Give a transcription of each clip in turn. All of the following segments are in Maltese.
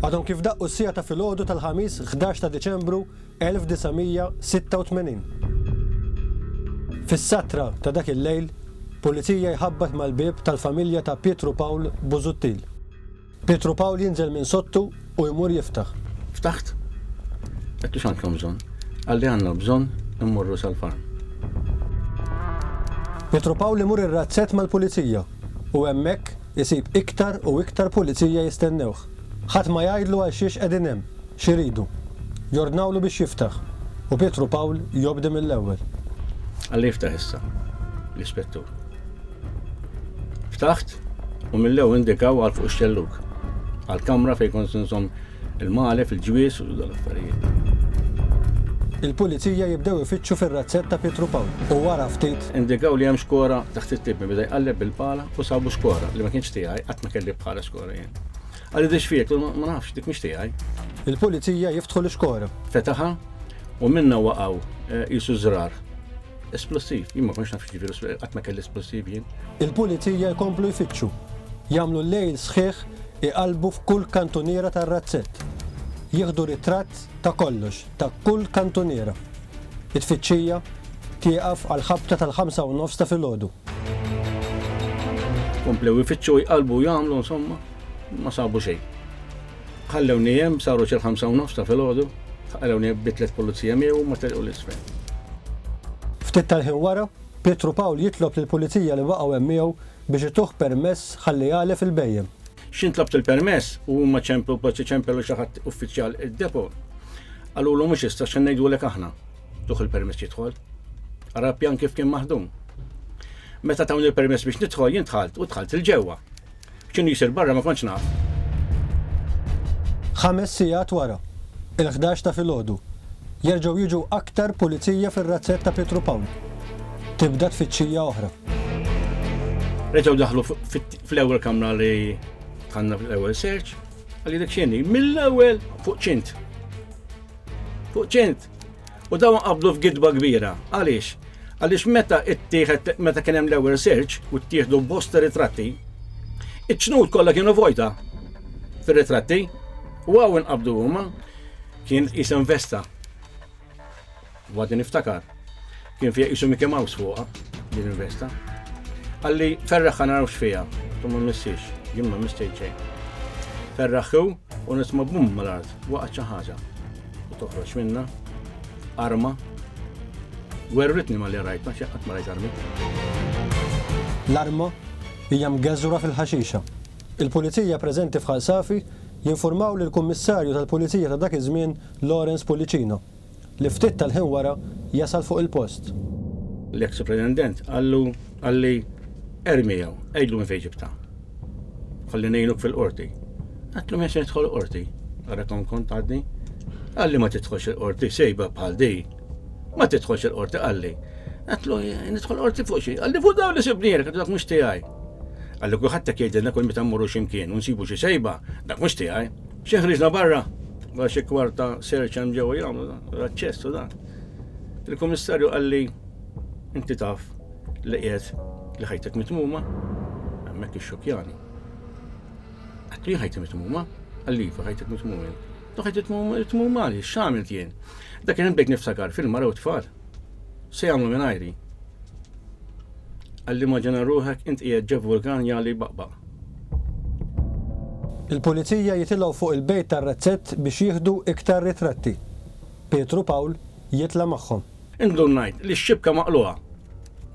Għadhom kif daqqu s-siegħa ta' filgħodu tal-Ħamis 11 ta' Diċembru 1986. Fis-satra ta' dak il-lejl, Pulizija jħabbat mal-bieb tal-familja ta' Pietru Pawl Busuttil. Pietru Pawl jinżel minn sottu u jmur jiftaħ. Ftaħt. Għedtu x'għandkom bżonn? Qalli għandna bżonn immorru sal-farm. Pietru Pawl imur ir-razzett mal-Pulizija u hemmhekk, isib iktar u iktar pulizija jistennewh. Ħadd ma jgħidlu għalxiex qegħdin hemm, x'iridu. Jordnawlu biex jiftaħ, u Pietru Pawl jobdi mill-ewwel. Alla jiftaħ issa, l-ispettur. Ftaħt u mill-ewwel indikaw għal fuq ix-xellug, għall-kamra fejn kont inżomm Il-malef, il-ġwież u dal-affarijiet. Il-Pulizija jibdew ifittxu fir-razzett ta' Pietru Pawl u wara ftit. Indikaw li hemm xkora taħt it-tipi. Beda jqalleb bil-pala u sabu xkora li ma kienx tiegħi, qatt ma kelli bħala xkora jien. Qalli di x'fik? Għedtlu ma nafx, dik mhix tiegħi. Il-Pulizija jiftħu l-xkora. Fetaħha u minnha waqgħu qisu żrar. Esplosiv, jien ma kontx naf x'jiġifieri esplosiv, qatt ma kelli esplosiv jien. Il-Pulizija jkomplu jfittxu. Jagħmlu lejl sħiħ iqallbu f'kull kantuniera tar-razzett. Jieħdu ritratt ta' kollox, ta' kull kantuniera. It-tfittxija tieqaf għall-ħabta tal-ħamsa u nofs ta' filgħodu. Komplew ifittxu, jqallbu u jagħmlu insomma, ma sabu xejn. Ħallewni hemm, saru xi l-ħamsa u nofs ta' filgħodu, ħallewni hemm bi tliet pulizija miegħi u huma telqu 'l isfel. Ftit tal-ħin wara, Pietru Pawl jitlob lill-pulizija li baqgħu hemm miegħu biex ituh permess ħalli jagħlef il-bhejjem. X'int tlabt il-permess u huma ċemplu, b'għodd iċempel u xi ħadd uffiċjal id-depo, qalulu mhux issa x'se ngħidulek aħna. Tuh il-permess jidħol. Ara l-pjan kif kien maħdum. Meta tawni l-permess biex nidħol, jien dħalt u dħalt 'il ġewwa. X'inhu jsir barra ma kontx naf. Ħames sigħat wara, il-ħdax ta' filgħodu, jerġgħu jiġu aktar pulizija fir-razzett ta' Pietru Pawl. Tibda tfittxija oħra. Reġgħu daħlu fl-ewwel kamra li dħalna fl-ewwel search, għalli dik x'inhi, mill-ewwel fuq ċint. Fuq ċint! U dawn qabdu f'gidba kbira. Għaliex? Għaliex meta ttieħed meta kien hemm l-ewwel search u ttieħdu bosta ritratti, iċ-ċnut kollha kienu vojta fir-ritratti u għaw inqabdu huma kien isem vesta. Għadni niftakar. Kien fija isu Mickey Mouse fuqa din il-vesta. Għalli ferraħħa narawx fija, tumma missiex, jimma mistejċej. Ferraħħu U nisma' bum mal-art, waqgħet xi ħaġa. U toħroġ minna, arma. Werritni ma li rajt, ma xi qatt ma rajt armi. L-arma hija mgeżżura fil-ħaxixa. Il-Pulizija preżenti f'Ħal Safi jinfurmaw lill-Kummissarju tal-Pulizija ta' dak iż-żmien Lawrence Pullicino. li ftit tal-ħin wara jasal fuq il-post. L-eks Pretendent qallu, qalli, Ermi hawn, għidlu minn fejn ġibtha. Ħalli ngħinuk fil-Qorti. Għedtlu m'hemmx nidħol il-Qorti. Ara kemm kont għadni. Qalli ma tidħolx il-Qorti, sejba bħal di. Ma tidħolx il-Qorti qalli. Għedtlu nidħol Qorti fuq xi. Qalli fuq dawn li sibnielek, għedtlu dak mhux tiegħi. Qalli kulħadd hekk jgħidilna kull meta mmorru xi mkien u nsibu xi sejba, dak mhux tiegħi. Xi ħriġna barra, wara xi kwart ta' search hemm ġewwa jagħmlu dan, l-aċċess u dan. Il-Kummissarju qalli inti taf li qiegħed li ħajtek mitmuma? Hemmhekk ixxokkjani. Għattu jien ħajti mitmuma, għallifa ħajtek mitmuma jien. Tu ħajti mitmuma li, x'għamilt jien. Dak kien bdejt niftakar fil-mara u tfal. Se jagħmlu minn ajri. Għalli ma ġena ruħek int qiegħed ġev vulkan jali baqbaq. Il-Pulizija jitilgħu fuq il-bejt tar-Razzett biex jieħdu iktar ritratti. Pietru Pawl jitla' magħhom. Indunajt li x-xibka maqlugħa,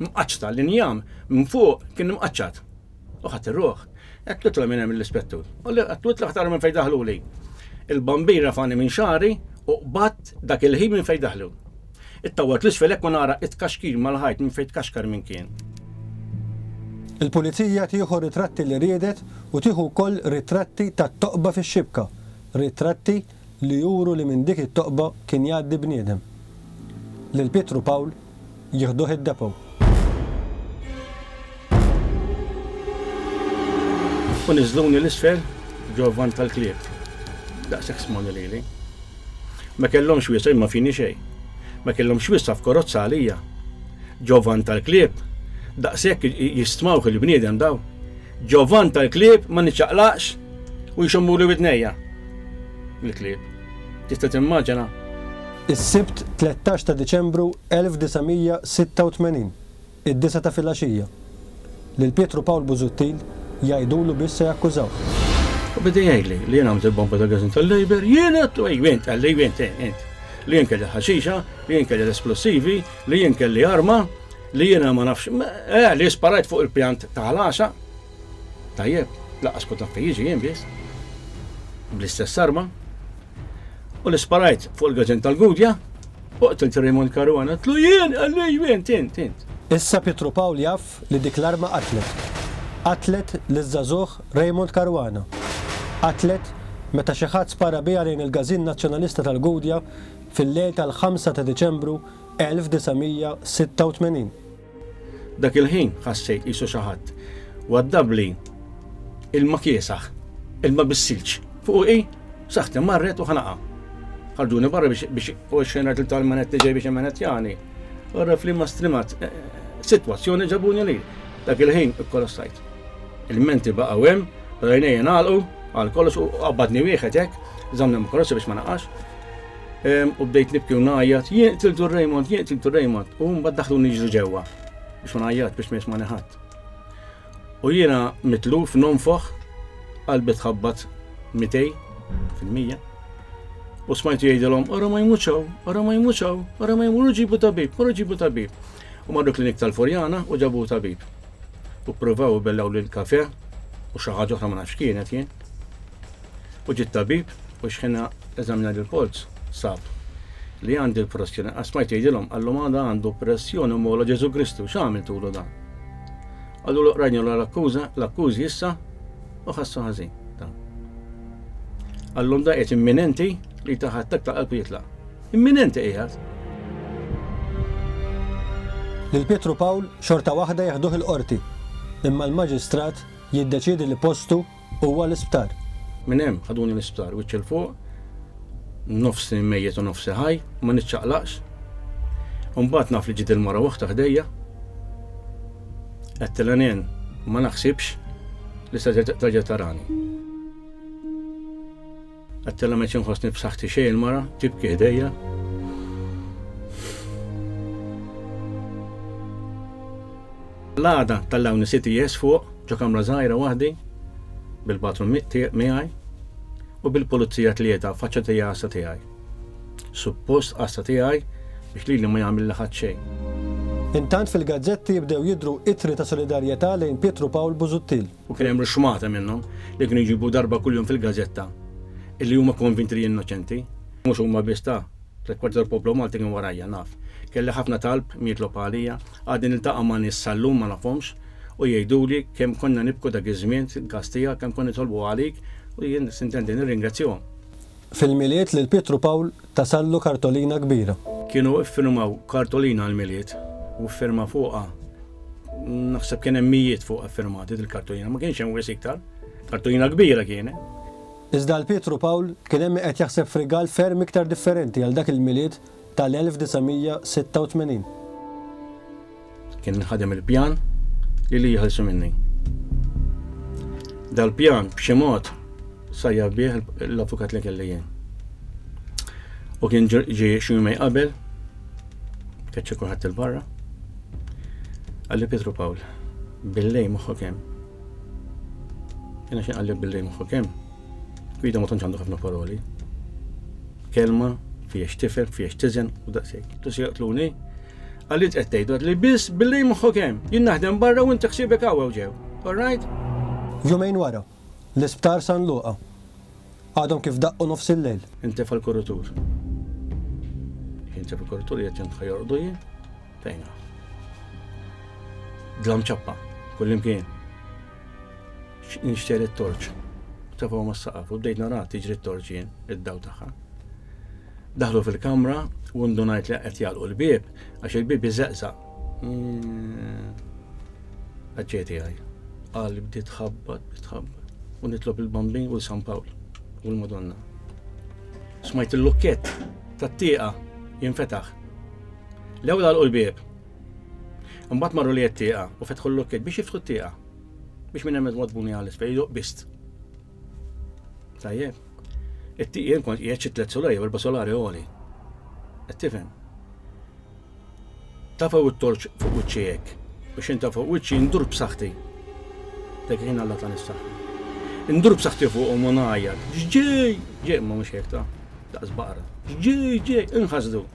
mqaċċta, l-injam minn fuq kien imqaċċat. U ħadt ir-ruħ. Għedt witla minn hemm lill-Ispettur. U li għedt witla aktar minn fejn daħluli. Il-bambin rafagħni minn xagħri u qbadt dak il-ħin minn fejn daħlu. Ittawwalt 'l isfel hekk u nara it-tkaxkir mal-ħajt minn fejn tkaxkar min kien. Il-Pulizija tieħu r-ritratti li riedet u tieħu wkoll ritratti tat-toqba fix-xibka, ritratti li juru li minn dik it-toqba kien jgħaddi bniedem. Lil Pietru Pawl jieħduh id-depot. U niżżluni 'l isfel ġo vant tal-klieb. Daqshekk smoni lili. Ma kellhomx wiesgħa jien ma fini xejn. Ma kellhomx wiesgħa f'korozza għalija. Ġo vant tal-klieb. Daqshekk jistmawh il-bniedem dawn. Ġo vant tal-klieb ma niċċaqlaqx u jxommuli widnejja. Il-klieb. Tista' timmaġina? Is-Sibt 13 ta' Diċembru 1986. Id-disgħa ta' filgħaxija. Lil Pietru Pawl Busuttil jgħidulu biss se jakkużawh. U beda jgħidli li jien għamilt il-bomba tal-gażin tal-Labour, jien għedt, u ejju int, qalli, ejju int, eh, int. Li jien kelli l-ħaxixa, li jien kelli l-esplosivi, li jien kelli arma, li jiena ma nafx, eh, li sparajt fuq il-pjant ta' ħlaxa. Tajjeb, laqqas kont naf fejn jiġi jien biss. Bl-istess arma. U li sparajt fuq il-gażin tal-Gudja. Oqtol Raymond Caruana, tlu jien, għalli jien, tint, tint. Issa Pietru Pawl jaf li dik l-arma qatlet. Qatlet liż-żagħżugħ Raymond Caruana. Qatlet meta xi ħadd spara biha lejn il-Gażin Nazzjonalista tal-Gudja fil-lejl tal-5 ta' Diċembru 1986. Dak il-ħin ħassejt qisu xi ħadd waddabli ilma kiesaħ, ilma bis-silġ, fuqi, saħħti marret u ħanaqha. Ħarġuni barra biex u xxenrat li tal-manet li ġej biex immanettjani. Għarraf li ma strimat eh, eh, sitwazzjoni ġabuni li dak il-ħin ikkolossajt. Il-menti baqgħu hemm, rajnejja nagħlqu għal kollox u qabbadni wieħed hekk, żammni ma biex ma naqax. U bdejt nibki u ngħajjat, jien qtiltu Raymond, jien qtiltu Raymond, u mbagħad daħlu niġru ġewwa biex ma ngħajjat biex ma jismani ħadd. U jiena mitluf nonfoħ qalbi tħabbat mitej fil-mija. U smajtu jgħidilhom, ora ma jmuċaw, ora ma jmuċaw, ora ma jmuru ġibu tabib, ora ġibu tabib. U marru klinik tal-Furjana u ġabu tabib. U provaw bellaw l-kafe u xaħġa oħra ma nafx kienet jien. U ġie t-tabib u xħina eżamina lill-polz sab li għandi l-pressjoni. Għasmajt jgħidilhom, għallum għada għandu pressjoni mola Ġesu Kristu, x'għamiltulu dan? Għallu l-oqrajn l-akkuża, l-akkużi issa u ħassu ħażin. Għallum da qed imminenti li taħattak ta' qalb jitlaq. Imminenti qiegħed. Lil Pietru Pawl xorta waħda jeħduh il-qorti, imma l-maġistrat jiddeċiedi li postu Huwa l-isptar. Minn hemm ħaduni l-isptar, wiċċ 'il fuq, nofsi mejjet u nofsi ħaj, ma niċċaqlaqx. U mbagħad naf li ġiet il-mara waħda ħdejja. Għedtilha nen ma naħsibx li se terġa' tarani. Għattela meċ nħossni b'saħħti xej il-mara, tibki ħdejja. L-għada tal-lawni siti jes fuq, ġo kamra zaħira wahdi, bil-patru miħaj, u bil-polizija tlieta faċċa tija għassa tijaj. Suppost għassa tijaj biex li li ma jgħamil laħat xej. Intant fil-gazzetti bdew jidru itri ta' solidarjetà lejn Pietru Pawl Buzuttil. U kien hemm ruxxmata minnhom li kienu jġibu darba kuljum fil-gażetta illi huma konvinti li innoċenti. Mhux huma biss ta. Tliet kwarti tal-poplu Malti kien warajja, naf. Kelli ħafna talb mietlob għalija. Għadni niltaqa' ma' nies sal-lum ma nafhomx u jgħiduli kemm konna nibku dak iż-żmien, il-każ tiegħek, kemm konna nitolbu għalik u jien sintendi nirringrazzjahom. Fil-Milied lil Pietru Pawl tasallu kartolina kbira. Kienu iffirmaw kartolina għall-Milied u ffirma fuqha, naħseb kien hemm mijiet fuqha ffirmati dil-kartolina, ma kienx hemm wisq iktar. Kartolina kbira kienet. Iżda għal Pietru Pawl kien hemm min qed jaħseb f'rigal ferm iktar differenti għal dak il-Milied tal-1986. Kien inħadem il-pjan li li jħelsu minni. Dal-pjan b'xi mod sajja bih l-avukat li kelli jien. U kien ġi xi jumej qabel, keċċi kulħadd il-barra, għalli Pietru Pawl, billej moħħok hemm. Jiena xi għalli billej moħħok hemm. Guido ma tantx għandu ħafna paroli. Kelma fiex tifhem, fiex tiżen u daqsejk. Tu se jaqtluni? Għalli qed tgħidu li biss billi moħħok hemm. Jien naħdem barra u inti ħsiebek hawn ġew. All right? Jumejn wara, l-isptar San Luqa. Għadhom kif daqqu nofs il-lejl. Intefa' l-kurutur. Intefa' l-kurutur jgħid jantħa jorqdu jien. Fejna. Dlam ċappa, kullimkien. Nixtieq it-torċ. Tefgħu mas-saqaf u bdejt nara tiġri t-torċ jien id-daw tagħha. Daħlu fil-kamra u ndunajt li qed jagħlqu l-bieb għax il-bieb iżeqżaq. Mm. Għadġejti għaj. Għal bdiet tħabbat, tħabbat. U nitlob il-bambin u l-San Pawl u l-Madonna. Smajt il-lukket tat-tieqa jinfetaħ. L-ewwel għalqu l-bieb Imbagħad marru li t-tieqa u fetħu l-lukkiet biex jiftħu t-tieqa. Biex minn hemmhekk wadbuni għal isfel, jiduq bist. Tajjeb. It-tieqien kont qiegħed xi tliet solari, erba' solari għoli. Qed tifhem? Tafaw it-torċ fuq wiċċi hekk. U xejn tafaw wiċċi ndur b'saħħti. Dak kien Alla ta' nissaħħa. Indur b'saħħti fuqhom u ngħajjat. Ġġej! Ġej ma mhux hekk ta' daqs baqra. Ġġej, ġej, inħasdu.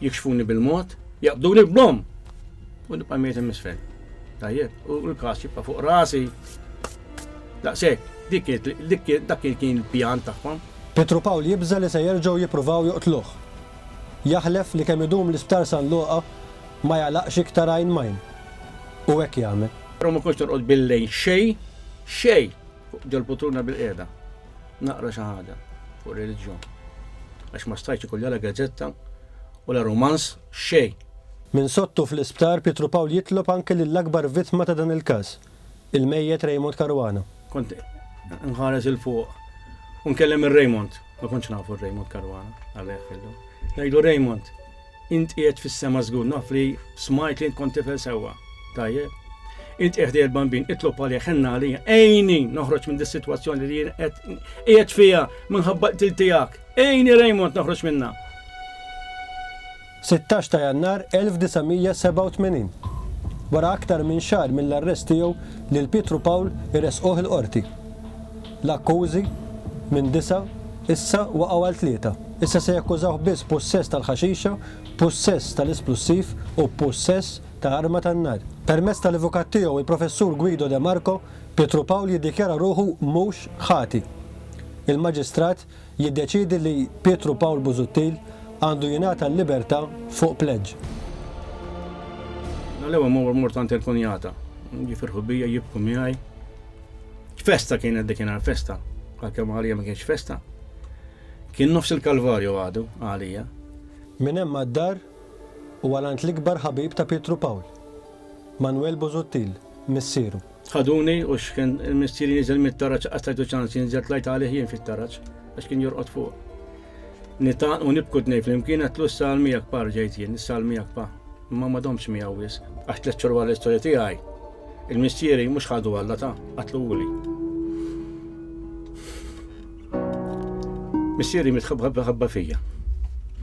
Jikxfuni bil-mod, jaqbduni b'bomm u nibqa' mejjet im'isfel. Tajjeb, u l-każ jibqa' fuq rasi. Daqshekk, dik dak kien il-pjan tagħhom. Pietru Pawl jibża' li se jerġgħu jippruvaw joqtluh. Jaħlef li kemm idum l-Isptar San Luqa ma jagħlaqx iktar għajn m'għajn. U hekk jagħmel. Però ma kontx norqod bil-lejl xejn, xejn, fuq ġol-putruna bil-qiegħda. naqra xi ħaġa fuq ir-reliġjon għax ma stajtx ikolli la gazzetta u la rumanz, xejn! Minn sottu fl-isptar Pietru Pawl jitlob anke lill-akbar vittma ta' dan il-każ, il-mejjet Raymond Caruana. Kont inħares 'il fuq u nkellem ir-Raymond, ma kontx nafu r-Raymond Caruana, Alla jħallilu. Ngħidlu Raymond, Int qiegħed fis-sema żgur, naf li smajt li int kont tifel sewwa. Tajjeb. Int qiegħed ħdejja l-bambin, itlob għalih, ħenna għalija, ejni noħroġ minn dis-sitwazzjoni li jien qed qiegħed fiha minħabba qtil tiegħek. Ejni Raymond noħroġ minnha. 16 ta' Jannar 1987. Wara aktar minn xahar mill-arrest tiegħu lil Pietru Pawl iressquh il-qorti. L-akkużi minn disa' issa waqgħu għal tlieta. Issa se jakkużawh biss b'pussess tal-ħaxixa, b'pussess tal-isplussiv u b'pussess ta' arma tan-nar. Permezz tal-avukat tiegħu, il-Professur Guido De Marco, Pietru Pawl jiddikjara ruħu mhux ħati. Il-Maġistrat jiddeċiedi li Pietru Pawl Busuttil għandu jingħata l-libertà fuq pleġġ. Nhar l-ewwel ma mort għand il-kunjata. Jifirħu bija, jibku miegħi. Festa kienet dik inhar festa, għalkemm għalija ma kienx festa. Kien nofs il-Kalvarju għadu, għalija. Minn hemm għad-dar u għal għand l-ikbar ħabib ta' Pietru Pawl, Manwel Busuttil, missieru. Ħaduni u x'kien missieri niżel mit-taraġ qatt tajtu ċans jinżel tlajt għalih jien fit-taraġ għax kien jorqod fuq. Nitgħannqu nibku t-tnejn flimkien għedtlu s-sal miegħek pa rġajt jien, is-sal miegħek pa. Imma ma domtx miegħu wisq. Għax tliet xhur wara l-istorja tiegħi, il-missieri mhux ħadu Alla ta, qatluli. Missieri mitħabba ħabba fija.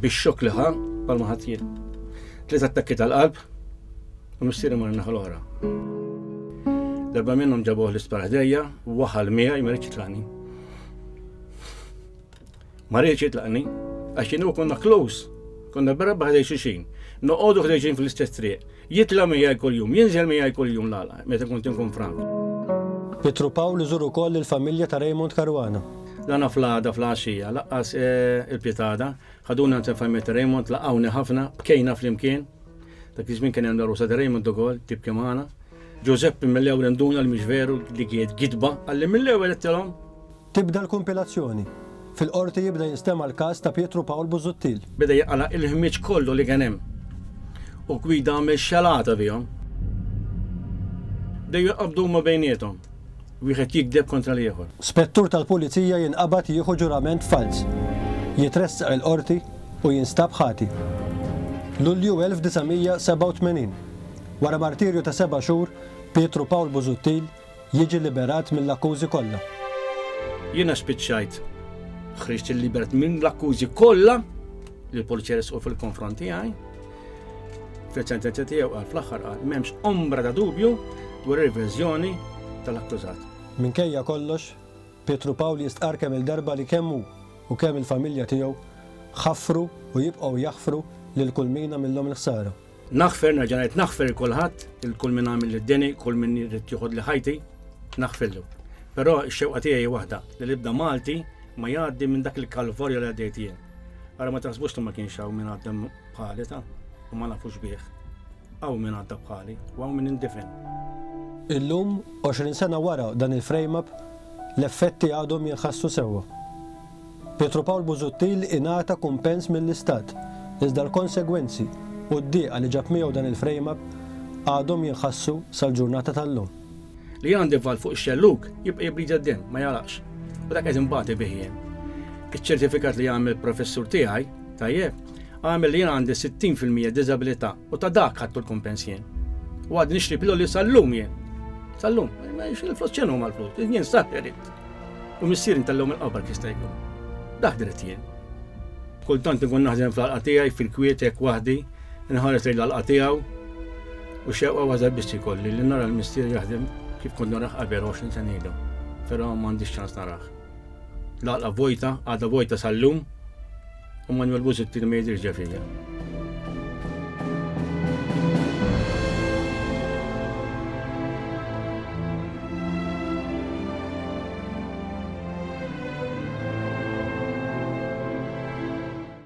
Bix-xokk li ħa bħal ma ħadd jien. Tliet attakki tal-qalb u missieri mar naħa l-oħra. Darba minnhom ġabuh l-isptar ħdejja, waħal miegħi ma rridx jitlaqni. Ma rridx jitlaqni għax kien konna close, konna barra ħdej xixin, noqogħdu ħdejxin fl-istess triq. Jitla' miegħi kuljum, jinżel miegħi kuljum l-għala, meta kont inkun frank. Pietru Pawl iżur ukoll lill-familja ta' Raymond Caruana. Dana fl-għada flgħaxija, laqqas il-Pitada, ħaduni għand il-familja ta' Raymond, laqgħuni ħafna, bkejna flimkien. Dak iż-żmien kien hemm l-għarusa ta' Raymond ukoll, tibki magħna. Ġużeppi mill-ewwel induna li mhix veru dik hi gidba, qalli mill-ewwel għedtilhom. Tibda l-kumpilazzjoni. Fil-Qorti jibda jinstema' l-każ ta' Pietru Pawl Busuttil. Beda jaqla' il-ħmieġ kollu li kien hemm u Guido għamel xalata bihom. Bdew jinqabdu huma bejniethom, wieħed jigdeb kontra l-ieħor. Spettur tal-Pulizija jinqabad jieħu ġurament falz, jitressaq il-Qorti u jinstab ħati. Lulju 1987. Wara martirju ta' seba' xhur, Pietru Pawl Busuttil, jiġi liberat mill-akkużi kollha. Jiena spiċċajt ħriġt il-liberat minn l-akkużi kollha li l-pulizija resqu fil-konfront tiegħi. Fil-sentenza tiegħu qal fl-aħħar qal m'hemmx ombra ta' dubju dwar ir-verżjoni tal-akkużat. Minkejja kollox, Pietru Pawl jistqarr kemm il-darba li kemm hu u kemm il-familja tiegħu ħaffru u jibqgħu jaħfru lil kull mina millhom il-ħsara. Naħfer, nerġa' ngħid naħfer il kulħadd, il kull min għamil id-deni, kull min jrid joħod li ħajti, naħfillu. Però x-xewqa tiegħi waħda li l-ibda Malti ma jgħaddi minn dak il-kalvorja li għaddejt jien. Ara ma taħsbux li ma kienx hawn minn għaddem bħali ta' u ma nafux bih. Hawn minn għadda bħali u hawn minn indifen. Illum, 20 sena wara dan il-frame-up, l-effetti għadhom jinħassu sewwa. Pietru Pawl Busuttil ingħata kumpens mill-Istat, iżda l-konsegwenzi u d-dieqa li ġab miegħu dan il-frame up għadhom jinħassu sal-ġurnata tal-lum. Li għandi valv fuq ix-xellug jibqa' jibbrida d-demm, ma jagħlaqx. U dak qed inbati bih jien. Iċ-ċertifikat li għamel professur tiegħi, tajjeb, għamel li jien għandi 60 fil-mija diżabilità. U ta' dak ħadtu l-kumpens jien. U għad nixtri piloli sal-lum jien. Sal-lum, ma jiex il-flus ċenu ma l-flus, jien sab jarit. U missir intallum il-qabar kista jkun. Daħ dritt jien. Kultant nkun naħdem fl-alqatijaj, fil-kwietek, wahdi, nħares lejn l-alqatijaw. U xewqa waza bisti kolli li nara l-missir jaħdem kif kont naraħ qabel 20 sen ilu. Pero ma għandix ċans naraħ. L-alqa vojta, għada vojta sal-lum, U Manuel Busettini ma jidirx ġafija.